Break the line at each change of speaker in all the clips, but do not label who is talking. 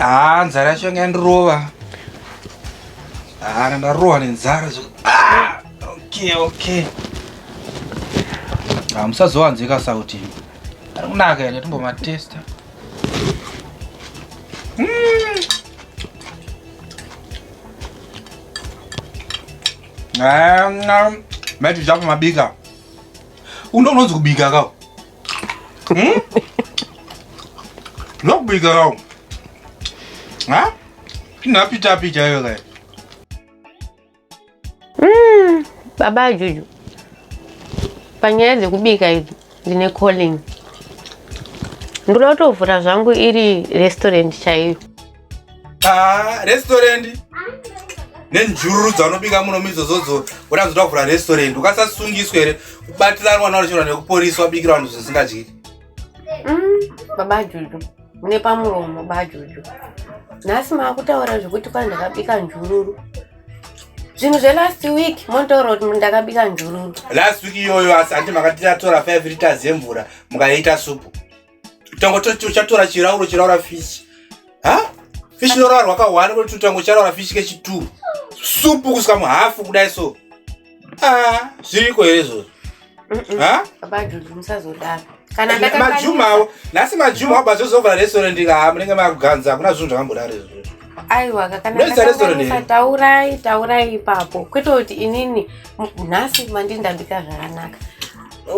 haa nzara yacho yanga yandirova haa ndandarohwa nenzara ah! Okay, okay. Ah, musazowanzika sauti. Ari kunaka here timbomatesta. Mm. Ah, Mati zvapo mabika. Undo unonzi kubika kao. Hmm? Ndokubika kao. Ha? Inapita pita yoga.
Mm, baba Juju, panyaya dzekubika idzi ndine calling. Ndoda kutovhura zvangu iri restaurant chaiyo. Ah, restaurant
nenjururu dzaunobika muno mizozodzo woda kuzoda kuvhura restaurant ukasasungiswa here kubatiranwa naochirwa nekuporiswa bikira vanhu zvisingadyiki Mm,
baba Juju, mune pamuromo baba Juju. Nhasi makutaura zvekuti kwani ndakabika njururu. Zvinhu zve last week motaura kuti ndakabika njururu. Last week iyoyo
asi hanti makatiratora 5 liters yemvura mukaita supu. Tongo toti uchatora chirauro chiraura fish. ha fish norarwa ka one kwetu tango charara fish kechi two supu kusika muhafu kudai so ah zviriko here izvozvo ha
baba juju musazodaro kana ndakakwanisa-
majuma awo nhasi majuma awo bazozovhura restaurant kaa munenge makuganza hakuna zvinhu zvakambodaro izvozvo aiwa kakana
Ndoisa restaurant ndakakanisa here? taurai taurai ipapo kwete kuti inini m- nhasi mandindambika zvakanaka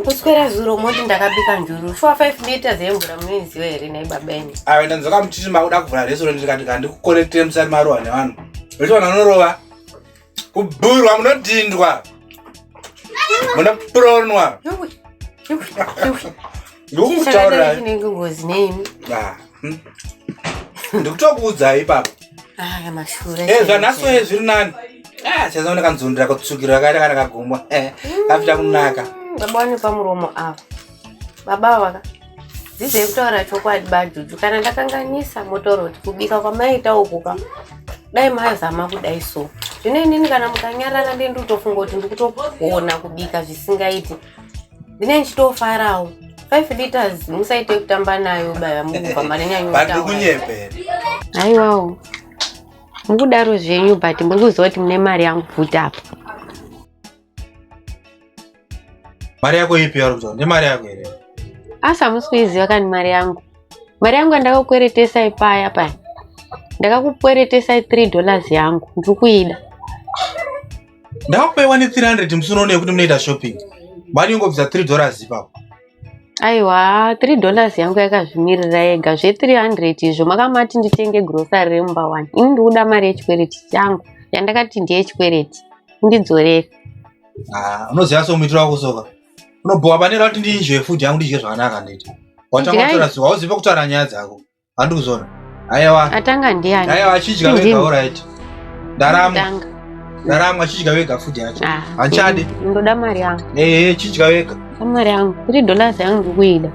kuswera zuro moti ndakabika njuru shuwa 5 meters yemvura munoiziva here nei baba ini ave ndanzoka muchiti makuda
kuvhura restaurant ndikati kandikukorektere musati marohwa nevanhu restaurant anorova kubhurwa munodhindwa munopuronwa ndikukutaurira ngozi
neimi Hmm?
ndikutokuudzai ipapo eh, zvanhaso e zviri nani ah, chazaona kanzondera kutsukira kaita kana kagomwa eh, kafita kunaka hmm, baba wane pamuromo
ava baba vaka dzidzai kutaura chokwadi bajuju kana ndakanganisa motoroti kubika kwamaita ukuka dai mazama kudai so zvino inini kana mukanyarara ndenditofunga kuti ndikutogona kubika zvisingaiti ndine ndichitofarawo 5 liters musaite kutamba nayo baya mukubva marinyanyokunyepera
aiwawo
mukudaro zvenyu but muri kuziva kuti mune mari yangu bvuti apa
mari yako ipi yari kutaura ndemari yako here asi hamusi
kuiziva kani mari yangu mari yangu yandakakweretesai paya paya ndakakukweretesai 3 dollars yangu ndiri kuida
ndakupaiwa ne 300 musi unoone yekuti munoita shopping mari yongobvisa 3 dollars ipapo aiwa
3 dollars yangu yakazvimirira yega zve 300 izvo makamati nditenge grocery remumba 1 ini ndikuda mari yechikwereti changu yandakati ndeyechikwereti ndidzorere ah,
unoziva somuitiro wako soka unobhowa pane rauti ndinzve food yangu ndidye zvakanaka nditi watangotora zuva uzive kutaura nyaya dzako handi kuzona aiwa atanga ndiani aiwa
achidya vega
oraiti ndaramwa ndaramwa achidya vega futi yacho ah, hanchadi ndoda mari yangu
ehe chidya vega
mari yangu three
dollars yangu ndikuida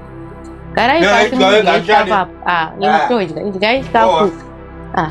garai pasi mudya istafu apo ah, nemutodya ah. idyai istafu ah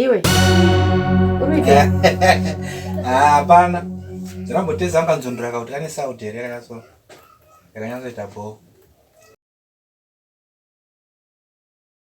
Iwe. Uruja.
Ah, hapana. Ndinamboteza anganzondora kuti ane sauti here yakaso. Yakanyatsoita bho.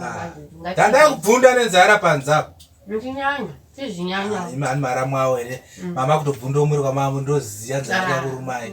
Ah.
tandai
kubvunda nenzara panzapo
imani ah, mara mwawo
here mm. mama kutobvunda umuri kwamavo ndoziya nzara ah, yakurumai